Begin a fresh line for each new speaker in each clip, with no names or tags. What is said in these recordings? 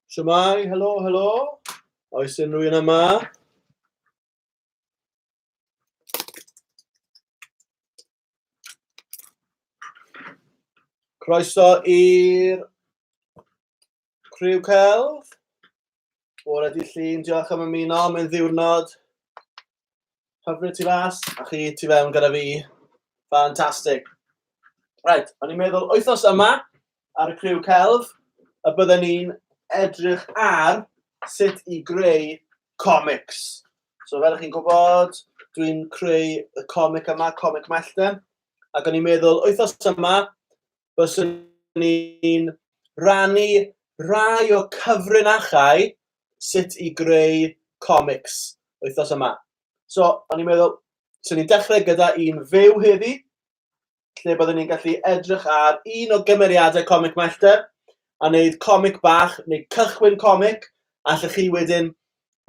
Siamai, helo, helo. Oes unrhyw un yma? Croeso i'r Criw celf. Bore di llun, diolch am ymuno, mae'n ddiwrnod. Hyfryd ti fas, a chi ti fewn gyda fi. Fantastic. Right, o'n i'n meddwl wythnos yma ar y criw celf y bydden ni'n edrych ar sut i greu comics. So fel ych chi'n gwybod, dwi'n creu y comic yma, Comic Mellten, ac o'n i'n meddwl wythnos yma, byswn ni'n rannu rhai o cyfrinachau sut i greu comics wythnos yma. So, o'n i'n meddwl, so ni'n dechrau gyda un fyw heddi, lle byddwn ni'n gallu edrych ar un o gymeriadau comic Mellter, a wneud comic bach, neu cychwyn comic, allwch chi wedyn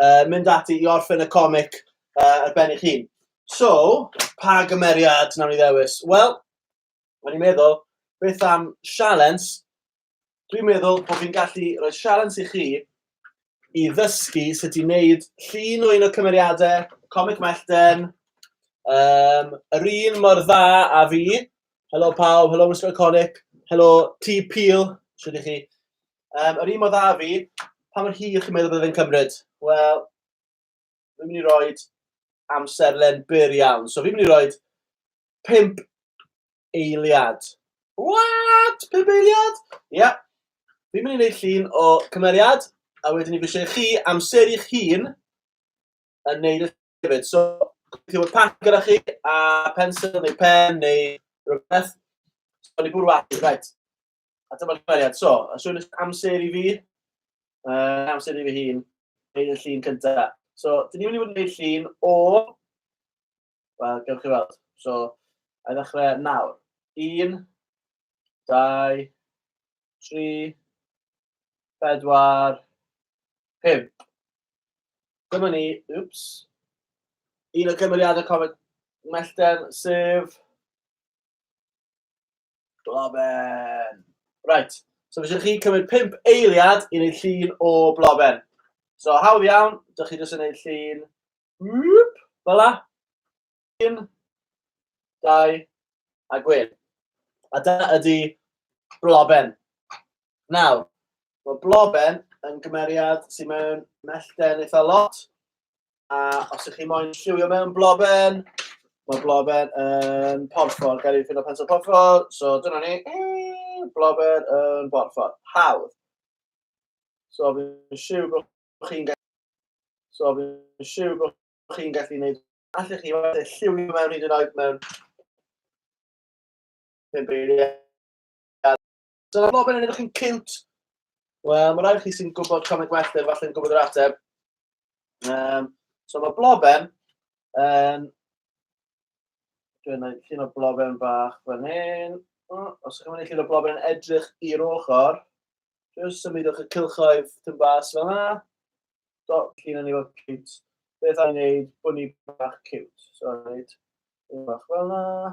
uh, mynd ati i orffen y comic uh, ar ben eich hun. So, pa gymeriad nawn ni ddewis? Wel, O'n i'n meddwl, beth am sialens? Dwi'n meddwl bod fi'n gallu rhoi sialens i chi i ddysgu sut i wneud llun o un o cymeriadau Comic Mellten, um, yr un mor dda a fi. Helo pawb, helo Mr Iconic, helo T Peel, sydd i chi. Um, yr un mor dda a fi, pa mor hir chi'n meddwl bod e'n cymryd? Wel, fi'n mynd i roi amserlen byr iawn. So fi'n mynd i roi pimp eiliad. What? Pimp eiliad? Ia. Yeah. Fi'n mynd i wneud llun o cymeriad, a wedyn ni fi eisiau chi amser i'ch hun yn neud y hefyd. So, chi fod pac gyda chi, a pensel neu pen neu rhywbeth. So, ni bwrw at, right. A dyma'r cymeriad. So, a swn i'n amser i fi, uh, amser i fi hun, gwneud y llun cyntaf. So, dyn ni'n mynd i fod yn gwneud llun o... Wel, gewch chi weld. So, a ddechrau nawr. Un, dau, tri, bedwar, pimp. Dyma ni, wps, un o cymeriadau Comet Mellten, sef Bloben! Right, so fysio chi cymryd 5 eiliad i wneud llun o bloben. So hawdd iawn, dych chi jyst yn wneud llun, whoop, fel la, un, dau, a gwyn. A da ydy bloben. Nawr, mae bloben yn gymeriad sy'n mewn mellten eitha lot. A os ydych chi moyn lliwio mewn bloben, mae bloben yn porffor. Gael ei ffindo pensel porffor, so dyna ni. Bloben yn porffor. Hawdd. So fi'n siw bod chi'n gallu... So fi'n siw bod chi'n gallu gwneud... Allech chi falle lliwio mewn hyd yn oed mewn... Pimp eiliad. Dyna fo, mae'n edrych yn cute. Wel, mae rhaid chi sy'n gwybod comic werth e, falle'n gwybod yr ateb. Um, so mae bloben, um, dwi'n gwneud llun o bloben bach fan hyn. Mm, os ydych chi'n mynd i llun o bloben yn edrych i'r ochr, jyst symudwch y cilchoedd tyn bas fel yna. Do, llun yn ei fod cute. Beth a'n gwneud bod ni bach cute? So, gwneud un bach fel yna.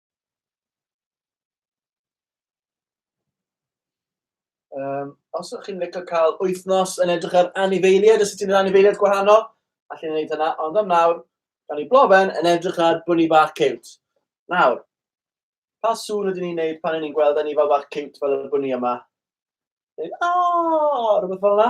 Um, os ydych chi'n licio cael wythnos yn edrych ar anifeiliaid, os ydych chi'n anifeiliaid gwahanol, allwn ni wneud hynna, ond am nawr, da ni blofen yn edrych ar bwni bach ciwt. Nawr, pa sŵn ydyn ni'n neud pan ni'n gweld anifal bach ciwt fel y bwni yma? Neu, o, rhywbeth fel yna.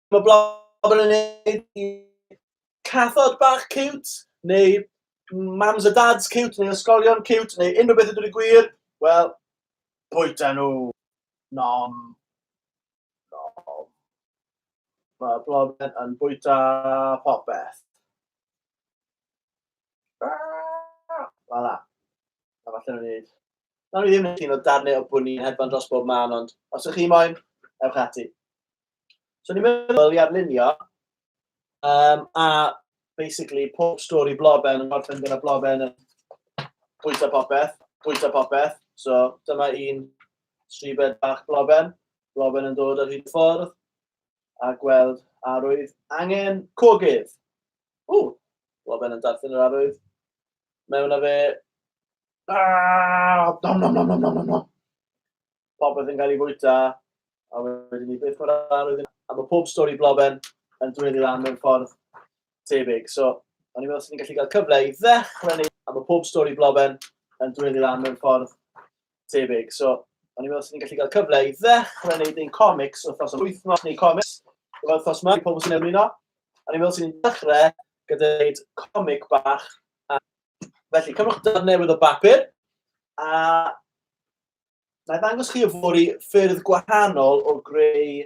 Mae blogger yn neud i cathod bach cute, neu mams a dads cute, neu ysgolion cute, neu unrhyw beth ydw'n i gwir, wel, bwyta nhw. Nom. Nom. Mae blogger yn bwyta popeth. Fala. A falle nhw'n neud. Nawr ni ddim yn un o darnau o bwni yn hedfan dros bob man, ond os ych chi moyn, ewch ati. So ni'n meddwl i arlunio, um, a basically pob stori bloben yn gorffen gyda bloben yn pwysa popeth, pwysa popeth. So dyma un stribed bach bloben, bloben yn dod ar hyd ffordd, a gweld arwydd angen cogydd. O, bloben yn darllen yr arwydd. Mewn a fe, ah, nom nom nom nom nom nom. popeth yn cael ei fwyta, a wedyn ni beth o'r arwydd yna. A mae pob stori bloben yn dweddu lan mewn ffordd tebyg. So, o'n i'n meddwl swn i'n gallu cael cyfle i ddechrau neu... A mae pob stori bloben yn dweddu lan mewn ffordd tebyg. So, o'n i'n meddwl swn i'n gallu cael cyfle i ddechrau wneud ein comics wythnos yn wythnos neu comics gyda'r wythnos yma i pobl sy'n ymuno. O'n i'n meddwl swn i'n dechrau gyda wneud comic bach. A felly, cymwch darn newydd o bapur a Na i ddangos chi yfory ffyrdd gwahanol o greu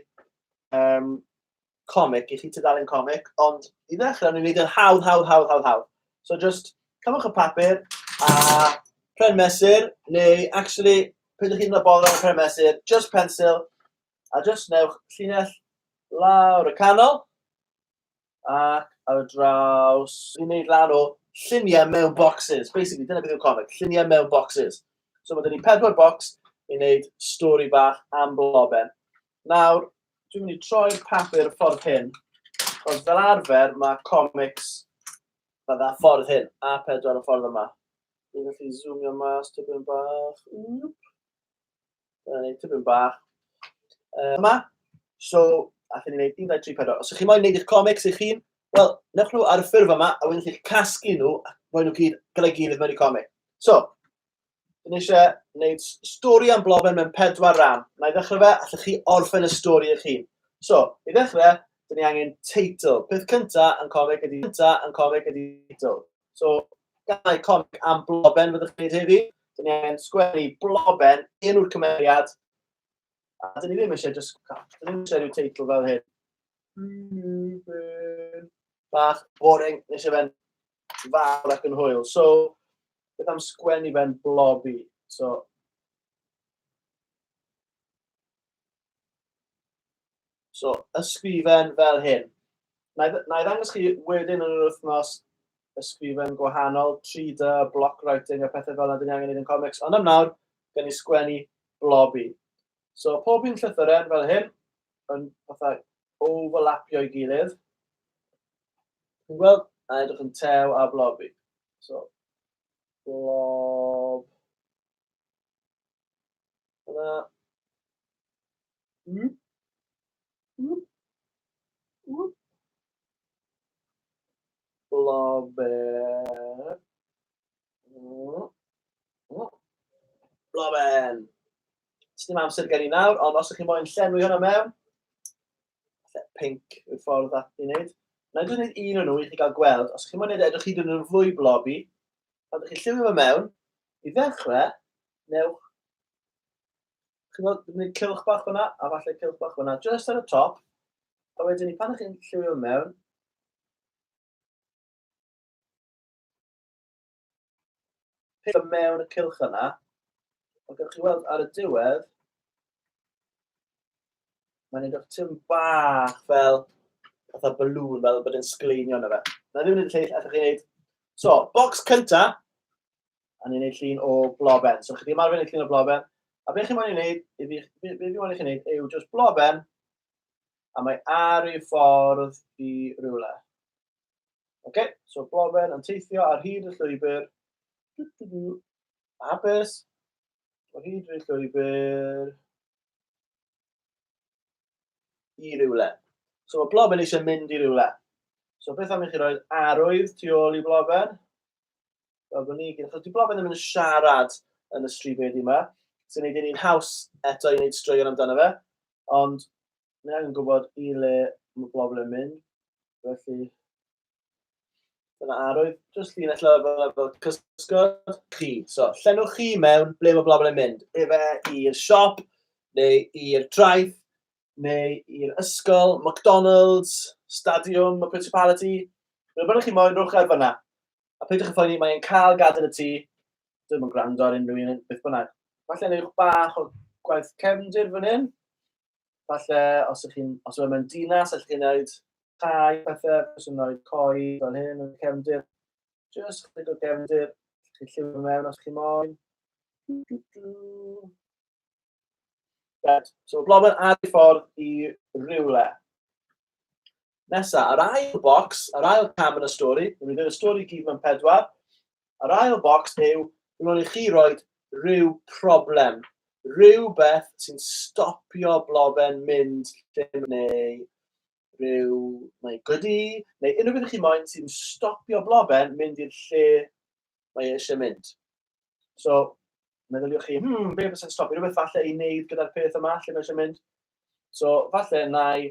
um, comic i chi tudalen comic, ond i ddechrau, ni'n gwneud yn hawdd, hawdd, hawdd, hawdd, hawdd. So just cymwch y papur a pren mesur, neu actually, pryd ydych chi'n mynd bol ar pren mesur, just pencil, a just newch llinell lawr y canol, ac ar y draws, fi'n neud lan o lluniau mewn boxes. Basically, dyna beth yw'r comic, lluniau mewn boxes. So mae dyn ni pedwar box i wneud stori bach am bloben. Nawr, dwi'n mynd i troi'r papur y ffordd hyn, ond fel arfer mae comics mae dda ffordd hyn, a pedwar y ffordd yma. Dwi'n gallu zoomio mas tipyn bach. Wp. Dyna ni, tipyn bach. Uh, yma, so, a chi'n gwneud 1, 2, 3, 4. Os ydych chi'n moyn gwneud eich comics eich hun, wel, newch nhw ar y ffurf yma, a wedyn chi'ch casglu nhw, a rhoi nhw gyd, gyda'i gilydd mewn i comic. So, dyn eisiau gwneud stori am bloben mewn pedwar ran. Na i ddechrau fe, allwch chi orffen y stori eich hun. So, i ddechrau, dyn ni angen teitl. Peth cyntaf yn comic ydy cyntaf yn comic ydy teitl. So, gael comic am bloben fyddwch chi'n gwneud heddi. Dyn ni angen sgwennu bloben, un o'r cymeriad. A dyn ni ddim eisiau just... Dyn ni ddim eisiau rhyw teitl fel hyn. Bloben. Bach, boring, nes eisiau fe'n fawr ac yn hwyl. So, beth am sgwennu fe'n blobi? So, So, ysgrifen fel hyn. Na i ddangos chi wedyn yn yr wythnos ysgrifen gwahanol, 3D, block writing a pethau fel yna dyn ni angen ei yn comics, ond am nawr, gen i sgwennu blobi. So, pob un llythyren fel hyn, yn fatha overlapio i gilydd. Yn gweld, a edrych yn tew a blobi. So, blob, Yna... Mm? Mm? Mm? Bloben. Mm. Mm. Bloben. Sdim amser gen i nawr, ond os ydych chi'n moyn llenwi hwnna mewn, lle pink yw'r ffordd at i wneud. Na i dwi'n gwneud un o'n nhw i chi gael gweld. Os ydych chi'n moyn wneud e, edrych hyd yn oed yn fwy blobi, pan ydych chi'n lliwio fe mewn, I ddechrau, newch, chi'n gwneud cilch bach fyna, a falle cilch bach fyna, just ar y top, a wedyn ni pan ych chi'n lliwio mewn, peth o mewn y cilch yna, ond gallwch chi weld ar y diwedd, mae'n edrych tyn bach fel fatha balŵn, fel bod yn sgleinio yna fe. Na ddim yn edrych lleill, allwch chi wneud. So, box cynta, a ni'n gwneud llun o bloben. So, chyddi ymarfer yn llun o bloben, a beth chi'n moyn i wneud, i fi, beth fi moyn i chi wneud, yw just bloben, a mae ar ei ffordd i rywle. Oce, okay? so bloben yn teithio ar hyd y llwybr, hapus, ar hyd y llwybr, i rywle. So mae bloben eisiau mynd i rywle. So beth am i chi roed arwydd tu ôl i bloben? Wel, bod ni gyd, achos dwi'n blofedd ddim yn siarad yn y stryd wedi yma, sy'n gwneud i'n haws eto i wneud straeon amdano fe, ond ni angen gwybod i le mae bobl yn mynd, felly dyna arwydd, jyst llun allan fel, fel cysgod chi. So, llenwch chi mewn ble mae bobl yn mynd, efe i'r siop, neu i'r traeth, neu i'r ysgol, McDonald's, stadiwm, y principality, rhywbeth ydych chi moyn, rhywbeth ar fyna. A peidiwch â phoeni, mae e'n cael gadael y tŷ. Dwi'm yn gwrando ar unrhyw un, beth bynnag. Falle newch bach o gwaith cefndir fan hyn. Falle, os ydych chi'n, os ydych chi'n dinas, allwch chi'n gwneud tai, pethau, os ydych chi'n coi fel hyn yn cefndir. Just chydig o gefndir, chi lliwio mewn os chi'n moyn. Right, so blobyn ar ei ffordd i rywle. Nesa, yr ail bocs, yr ail cam yn y stori, ni'n mynd i'r stori gyd mewn pedwar, yr ail bocs yw, dwi'n mynd i chi roed rhyw problem, rhywbeth sy'n stopio blofen mynd lle neu rhyw, neu gydi, neu unrhyw beth chi moyn sy'n stopio blofen mynd i'r lle mae eisiau mynd. So, meddyliwch chi, hmm, be fysa'n stopio rhywbeth falle i wneud gyda'r peth yma lle mae eisiau mynd? So, falle na i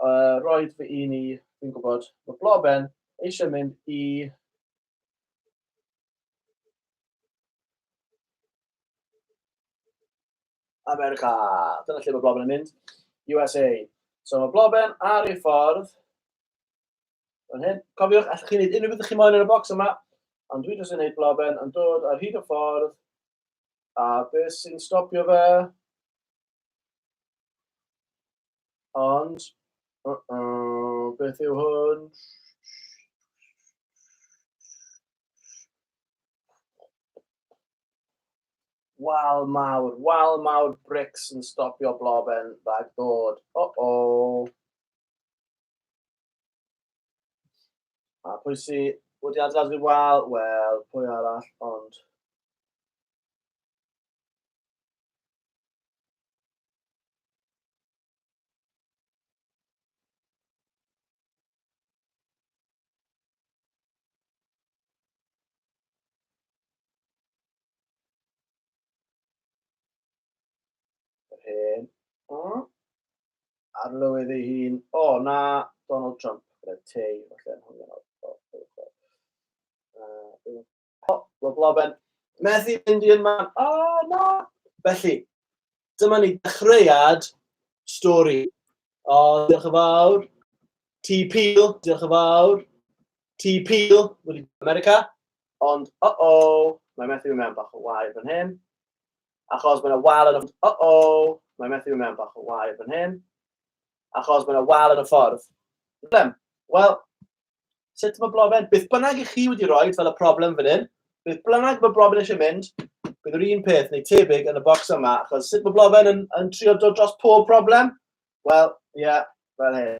uh, roed fy un i, fi'n gwybod, mae Bloben eisiau mynd i America. Dyna lle mae Bloben yn mynd. USA. So mae Bloben ar ei ffordd. Fan hyn. Cofiwch, allwch chi wneud unrhyw beth chi moyn yn y bocs yma. Ond dwi jyst yn gwneud Bloben yn dod ar hyd y ffordd. A beth sy'n stopio fe? Ond, uh -oh, beth yw hwn? Wal mawr, wal mawr brics yn stopio bloben rhag dod. O o. A pwy sy wedi adlad fi wal? Wel, pwy arall, ond... hen. O. Ar lywydd ei hun. O, oh, na, Donald Trump. Gyda tei, falle, yn hwnna. O, mae Blaben methu mynd i'r man. O, oh, na! Felly, dyma ni dechreuad stori. O, oh, diolch yn fawr. Ti Peel, diolch yn fawr. Ti Peel, wedi America. Ond, o, oh, o, oh, mae methu mewn bach o wair fan hyn. Achos mae'n wal yn y... O, oh, o, oh, mae methu mewn bach o wair fan hyn. Achos mae'n wal yn y ffordd. Wel, Sut mae broblem? Beth bynnag i chi wedi rhoi fel y problem fan hyn, beth bynnag mae broblem eisiau mynd, bydd yr un peth neu tebyg yn y bocs yma, achos sut mae broblem yn, yn trio dod dros pob problem? Wel, ie, yeah, fel hyn.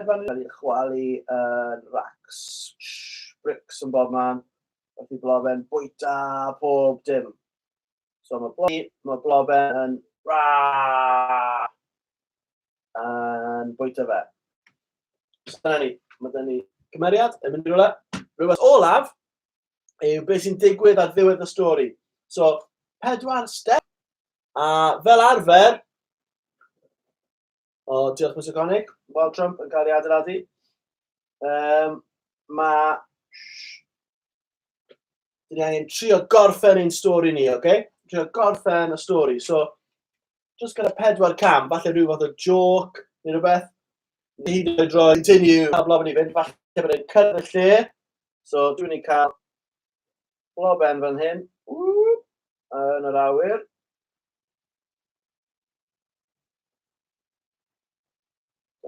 Mae'n cael ei chwalu yn racks, bricks yn bob man, wrth i blofen bwyta pob dim. So mae blofen, mae blofen yn yn bwyta fe. So dyna ni, mae dyna ni cymeriad yn mynd i rhywle. Rhywbeth olaf yw beth sy'n digwydd ar ddiwedd y stori. So, pedwar step, a fel arfer, O, diolch Mr Gonig. Wild Trump yn cael ei adeiladu. Um, mae... Dyn ni angen trio gorffen ein stori ni, oce? Okay? Trio gorffen y stori. So, just gyda pedwar cam, falle rhyw fath o joc neu rhywbeth. Ni hyd yn oed roi continue a blob yn i fynd, falle bod e'n cyrraedd lle. So, dwi'n ni'n cael bloben fan hyn. Ww, yn yr awyr.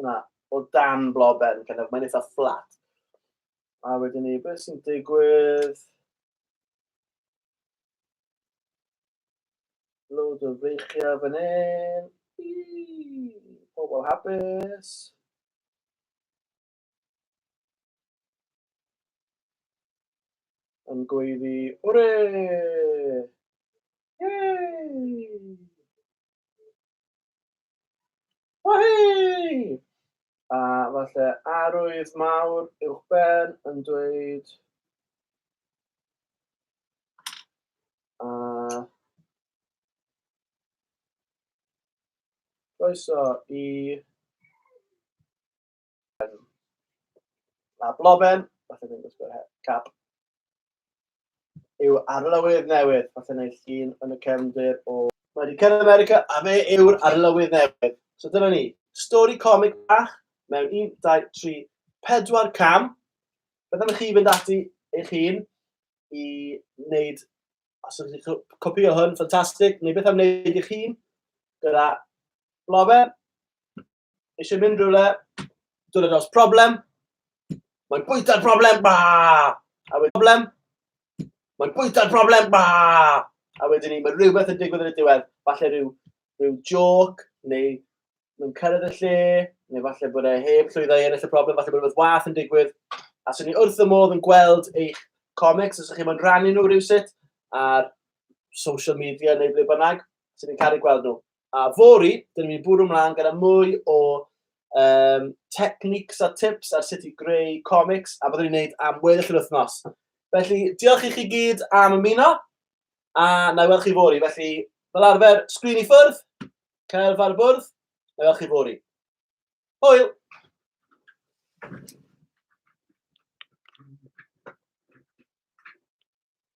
Yna, o dan bloben, kind of, mae'n eitha fflat. A wedyn ni, beth sy'n digwydd? Loads o freichiau fan hyn. Pobl hapus. Yn gweiddi, Wre! Yay! Wahey! A falle arwydd mawr uwch ben yn dweud a croeso i Um, a bloben, falle ddim gwisgo'r her, cap. Yw arlywydd newydd, falle neu llun yn y cefndir o... Mae wedi cyrraedd America a fe yw'r arlywydd newydd. So dyna ni, stori comic bach mewn 1, 2, 3, 4 cam. Beth am i chi fynd ati eich hun i wneud, os ydych chi'n copio hwn, ffantastig, neu beth am wneud eich hun gyda bloben, eisiau mynd rhywle, dod dros problem, mae'n bwyta'r problem, ba! A wedyn problem, mae'n bwyta'r problem, ba! A wedyn ni, mae rhywbeth yn digwydd yn y diwedd, falle rhyw, rhyw joc, neu mae'n cyrraedd y lle, neu falle bod e heb llwyddo i ennill y problem, falle bod rhywbeth wath yn digwydd. A sy'n ni wrth y modd yn gweld eich comics, os ydych chi'n rhannu nhw rhywsut, ar social media neu ble bynnag, sy'n ni'n caru gweld nhw. A fory, dyn ni'n mynd i bwrw mlaen gyda mwy o um, techniques a tips ar sut i greu comics, a byddwn ni'n gwneud am weddill yr wythnos. Felly, diolch i chi gyd am ymuno, a na i weld chi fory. Felly, fel arfer, sgrin i ffwrdd, cael far bwrdd, na i weld chi fory. Hwyl!